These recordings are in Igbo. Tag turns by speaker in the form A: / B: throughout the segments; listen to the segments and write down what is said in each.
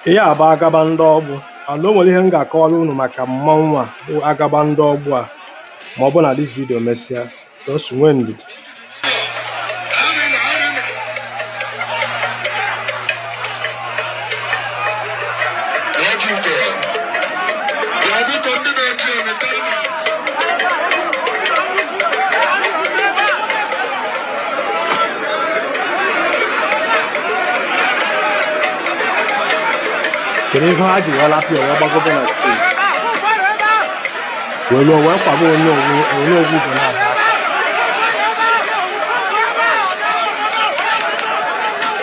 A: ihe a bụ agaba ndị ọgbụ and o nwere ihe m ga-akọwara unu maka mmanwụ a bụ agaba ndị ọgbụ a ma ọ bụ na dis vidio mesịa just nwee ndidi kedu ihe ha ji wee lapụ ya wee gbagobe na steeji wee lụọ wee kwaba Onowu Onowu Ugonabo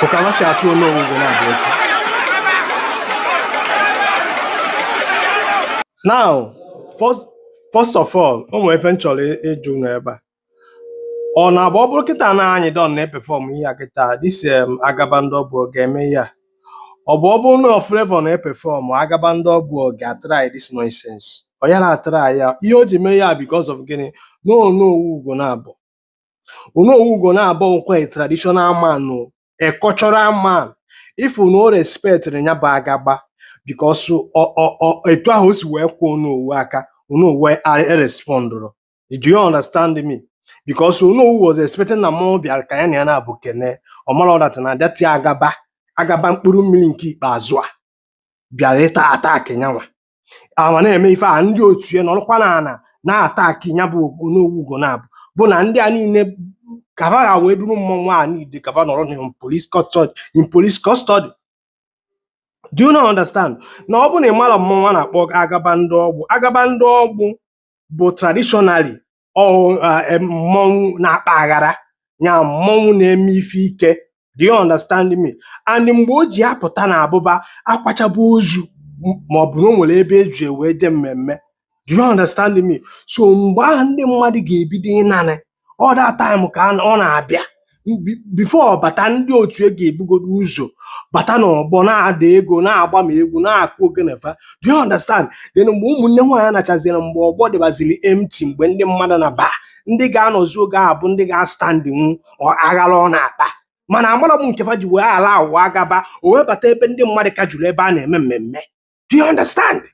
A: Fụ ka ma si atụ Onowu Ugonabo echi. Now, first, first of all, o nwere ife m chọrọ ị- ịjụ unu ebe a. Ọ na-abụ ọ bụrụ kịta na Anyịdọn na-epefọm ihe a kịta dis em agaba ndị ọgbụ ọ ga-eme ihe a. Ọ bụ ọ bụrụ na ọ Flavour na-epefọm agaba ndị ọgbụ ọ ga-atrai dis nonsense. Ọ yara atrai ya. Ihe o ji mee ya because of gịnị? Na Onowu Ugonabo. Onowu Ugonabo nkwa a traditional man o, a cultural man. Ị fụ na o respectịrị ya bụ agaba because ọ ọ ọ etu ahụ o si wee kwaa Onowu aka, Onowu erespondụrọ. Do you understand me? Because Onowu was expecting na mmụọ bịara ka ya na ya nabọ kene. Ọ marọ dat na dati agaba agaba mkpụrụ mmiri nke ikpeazụ a bịara ịta attack nyanwa ama na-eme ife a ndị otu ya nọrọkwa n'ana na-ataki ya bụ Onowu Ugonabo bụ na ndị a niile ka va ha wee duru mmọnwụ a niile ka va nọrọ na in police custody in police custody do you not understand na ọ bụ na ị mara mmọnwụ a na-akpọ agaba ndị ọgbụ agaba ndị ọgbụ bụ traditionally ọ ah, em, mmọnwụ na-akpa aghara ya mmọnwụ na-eme ife ike do you understand me and mgbe o ji apụta na-abụba a kwachaba ozu m- ma ọ bụ na o nwere ebe e ji wee je mmemme do you understand me so mgbe ahụ ndị mmadụ ga-ebido ịnanị all dat taịm ka a- ọ na-abịa Bi- bifọ ọ bata ndị otu e ga-ebugodo ụzọ bata n'ọgbọ na-ada ego na-agba ma egwu na-akụ ogene fa do you understand then mgbe ụmụnne nwaanyị nachaziri mgbe ọgbọ dịbaziri empty mgbe ndị mmadụ naba ndị ga-anọzi oge ahụ bụ ndị ga-astandịnwu ọ- aghara ọ na-akpa mana amarọ m nke fa ji wee allow agaba o wee bata ebe ndị mmadụ ka juru ebe a na-eme mmemme do you understand